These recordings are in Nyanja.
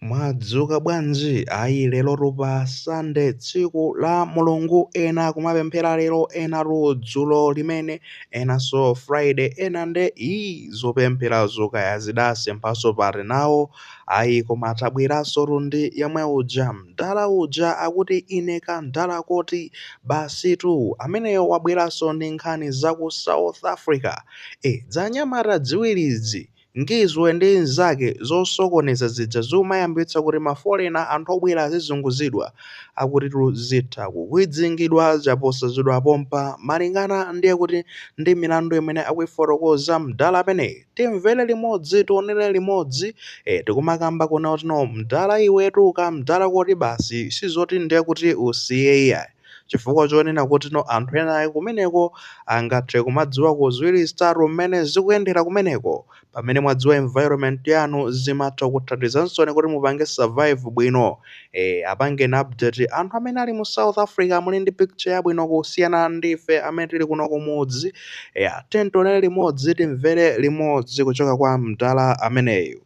Mwadzuka bwanji? Ayi lerotu pa Sunday tsiku la Mulungu ena akumapemphera lero enatu dzulo limene enanso Friday ena nde ii zopempherazo kaya zidasemphanso pati nawo. Ayi koma tabweransotu ndi yemwe uja mdala uja akuti ine kamdala koti basitu. Ameneyo wabweranso ndi nkhani za ku South Africa. E, dzanyamata dziwiri izi. Ngizwe ndi nzake zosokoneza zija zikumayambitsa kuti mafolena, anthu obwera azizunguzidwa, akutitu zitha kukwidzingidwa chaposachedwapa pompa malingana ndiye kuti ndi milandu imene akuifotokoza mdala ameneyi. Timvere limodzi tionere limodzi, ee tikumakamba kuno tino mdala iwetu kamdala koti basi sizoti ndiye kuti usiye iyayi. chifukwa chonena kuti no anthu ena ake kumeneko angathe kumadziwako ziwiri zitatu mmene zikuyendera kumeneko. Pamene mwadziwa environment yanu zimatha kukuthandizaninso kuti mupange survive bwino. Eeh, apangeni update anthu amene ali mu South Africa muli ndi picture yabwino kusiyana ndi ife amene tili kuno kumudzi. Eya, tiyeni tionere limodzi timvere limodzi kuchoka kwa mdala ameneyu.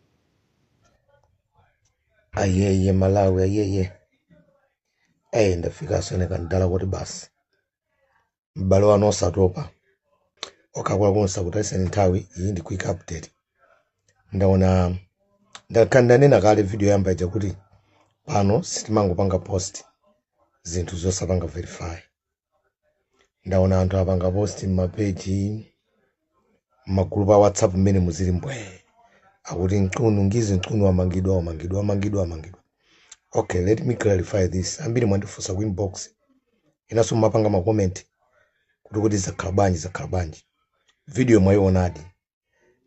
Ayeye Malawi ayeye. eyi ndafika ndine kamdala koti basi m'bale wanu osatopa okhakwera konse kuti ayiseni nthawi iyi ndi quick update ndaona ndakhala ndanena kale video yoyamba ija kuti pano sitimangopanga post zinthu zosapanga verify ndaona anthu apanga post m'mapeji m'magulupu a whatsapp mmene muziri mbwee akuti Mchunu Ngizwe Mchunu wamangidwa wamangidwa wamangidwa wamangidwa okay let me clarify this ambiri mwandifunsa ku inbox enanso mumapanga makomenti kuti kuti zakhala bwanji zakhala bwanji video mwayionadi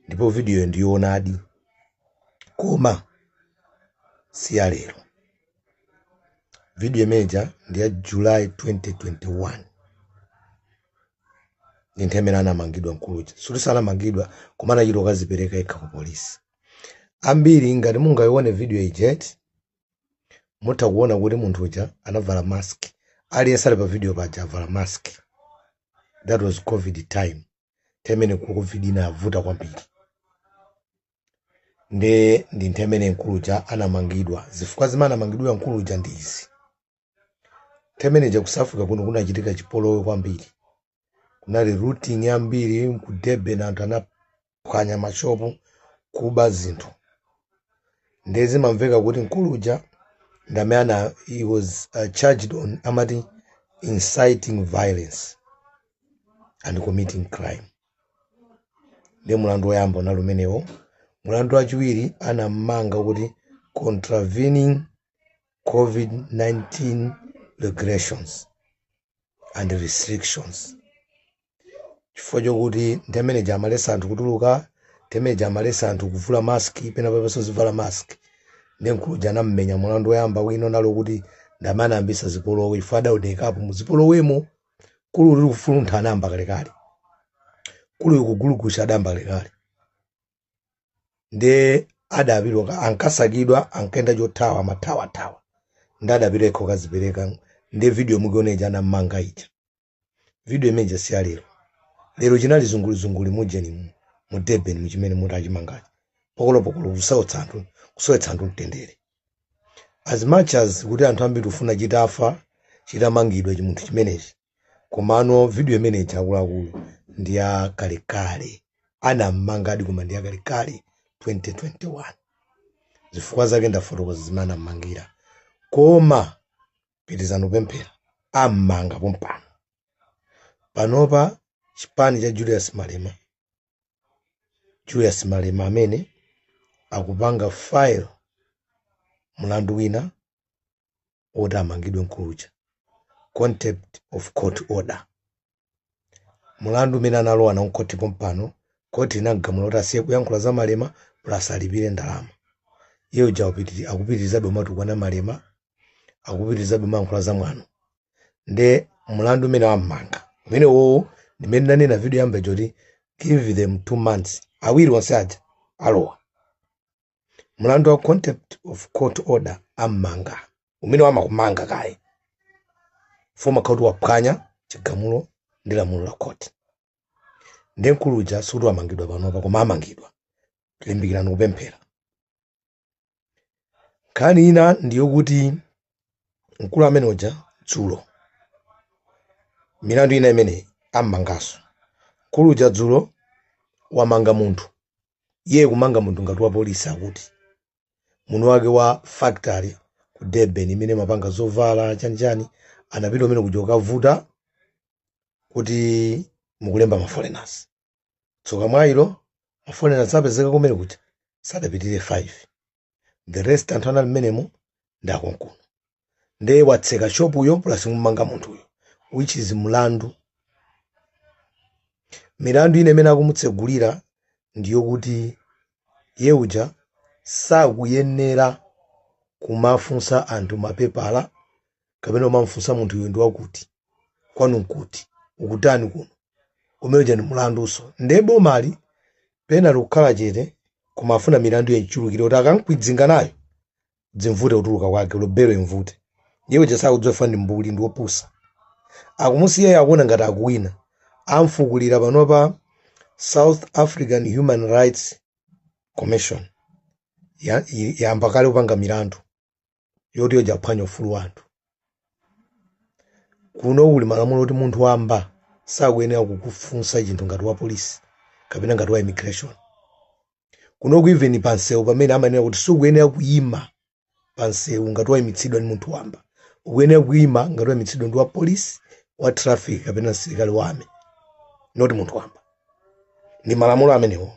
ndipo vidiyoyo ndiyoonadi koma si ya lero vidiyo imeneja ndi ya july 2021 ndi nthawi imene anamangidwa mkuluja sikuti anamangidwa koma anachita ukazipereka yekha ku polisi ambiri ngati mungayione vidiyo ijayo mutha kuona kuti munthu uja anavala mask aliyense ali pa vidiyo paja avala mask that was covid time nthemene covid inavuta kwambiri nde ndi nthemene mkuluja anamangidwa zifukwa zimene anamangidwira mkuluja ndi izi nthemeneja ku south africa kuno kunachitika chipolowe kwambiri kunali looting yambiri ku durban anthu anaphwanya mashopu kuba zinthu nde zimamveka kuti mkuluja ndamene ana he was uh, charged on amati inciting violence and committing crime nde mulandu woyamba unali umenewo mulandu wachiwiri anammanga kuti contravening covid-19 regulations and restrictions chifukwa chokuti ndi mmene ja amaletsa anthu kutuluka ndi mmene ja amaletsa anthu kuvula maski pena papanso zivala maski nde mkulu uja anammenya mulandu woyamba wina unali wokuti ndamene anayambitsa zipolowe chifukwa adaonekapo muzipolowemo kuli uli kufuluntha anayamba kalekale kuli uli kugulugusa adayamba kalekale nde adapita ankasakidwa ankayenda chothawa amathawathawa nde adapita yekha kukazipereka nde video mukuiona ija anammanga ija video imeneja si ya lero lero chinali chizungulizunguli mujeni mu- mu durban muchimene muti achimangachi pokolopokolo kusautsa anthu kusowetsa anthu mtendere As much as kuti anthu ambiri tikufuna chitafa chitamangidwa chimunthu chimenechi komano video imene ija akuluakulu ndi ya kalekale anammangadi koma ndi yakalekale 2021 zifukwa zake ndafotokoza zimene anammangira koma pitirizani kupemphera ammanga pompano panopa chipani cha Julius Malema Julius Malema ndi amene akupanga file mlandu wina woti amangidwe mkulu uja contempt of court order mlandu umene analowa nawo mkhoti pompano court linamgamula kuti asiye kuyankhula za malema plus alipire ndalama iye uja akupitiri- akupitirizabe kumatukwana malema akupitirizabe kumayankhula za mwano nde mlandu umene wammanga umenewowo ndi mmene ndanena video yoyamba ija kuti give them two months awiri onse aja alowa mlandu wa contempt of court order ammanga umene umakumanga kaye ufuna ukaoti waphwanya chigamulo ndi lamulo la court nde mkulu uja sikuti wamangidwa panopa koma amangidwa limbikirani kupemphera nkhani ina ndiyokuti mkulu ameneuja dzulo milandu ina imene ammanganso mkulu uja dzulo wamanga munthu iye kumanga munthu ngati wapolisi kuti mwini wake wa factory ku durban imene imapanga zovala chanichani anapita kumene kuja kukavuta kuti mukulemba maforeigners tsoka mwayi ilo ma foreigner apezeka kumene kuja sadapitirire 5 the rest anthu anali mmenemo ndi akonkuno nde watseka shopuyo plus kumanga munthuyo which is mlandu milandu ina imene akumutsegulira ndiyo kuti iye uja sakuyenera kumafunsa anthu mapepala kapena umamfunsa munthu iwe ndi wakuti kwanu nkuti ukutani kuno umene uja ndi mulanduso nde bomali pano likukhala chete koma afuna milandu imchulukire kuti akamkwidzinga nayo dzimvute kutuluka kwake belo imvute iye chasakudziwa ndi mbuli ndi wopusa akumusiyayo akuona ngati akuwina amufukulira panopa south african human rights commission ya- i- yayamba kale kupanga milandu yoti iye uja akuphwanya ufulu wa anthu kuno uli malamulo oti munthu wamba sakuyenera kukufunsa chinthu ngati wa polisi kapena ngati wa immigration kuno ku even pansewu pamene amanena kuti sukuyenera kuyima pansewu ngati wayimitsidwa ndi munthu wamba ukuyenera kuyima ngati wayimitsidwa ndi wa polisi wa traffic kapena msilikali wa army not munthu wamba ndi malamulo amenewo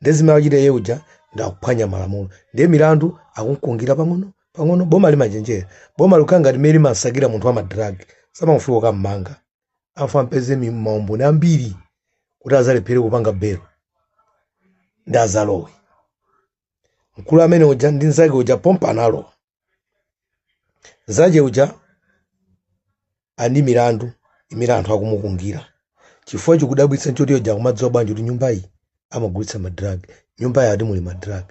nde zimene wachita iye uja ndakuphwanya malamulo ndiye milandu akumusungira pang'ono pang'ono boma limachenjera boma likukhala ngati mmene limamsakira munthu wa madrag samangofika kukammanga afuna ampeze mi- maumboni ambiri kuti azalephere kupanga belo ndi azalowe mkulu amene uja ndi nzake uja pompa analowa nzake uja ali ndi milandu imene anthu akumusungira chifukwa chikudabwitsa nchoti iye uja akumadziwa bwanji kuti nyumba iyi amagulitsa madrag nyumba iyi ati muli madrag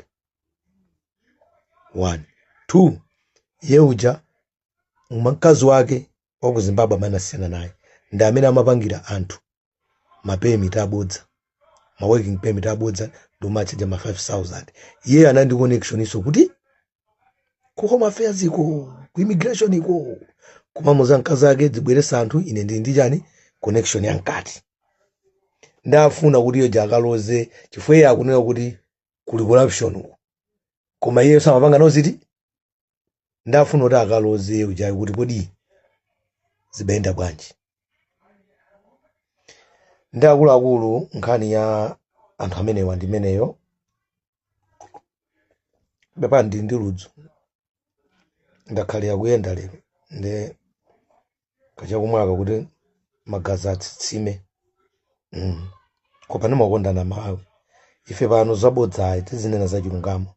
one two iye uja mkazi wake wa ku zimbabwe amene anasiyana naye ndi amene amapangira anthu ma permit abodza ma working permit abodza ndi kumatchaja ma 5000 iye anali ndi connection yonso kuti ku home affairs iko ku immigration iko koma amamuuza mkazi wake dzibweretsa anthu ine ndili ndi chani connection ya mkati nde afuna kuti iye uja akaloze chifukwa iye akunena kuti kuli corruption uko koma iyenso amapanga nawo zinthu nde afuna kuti akaloze iye uja kuti kodi zimayenda bwanji ndi akuluakulu nkhani ya anthu amenewa ndi imeneyo pepani ndili ndi ludzu ndakhalira kuyenda lero nde kachakumwaka kuti magazi atsitsime mm. koma ndimakukondani amalawi ife pano zabodza ayi tizinena za chilungamo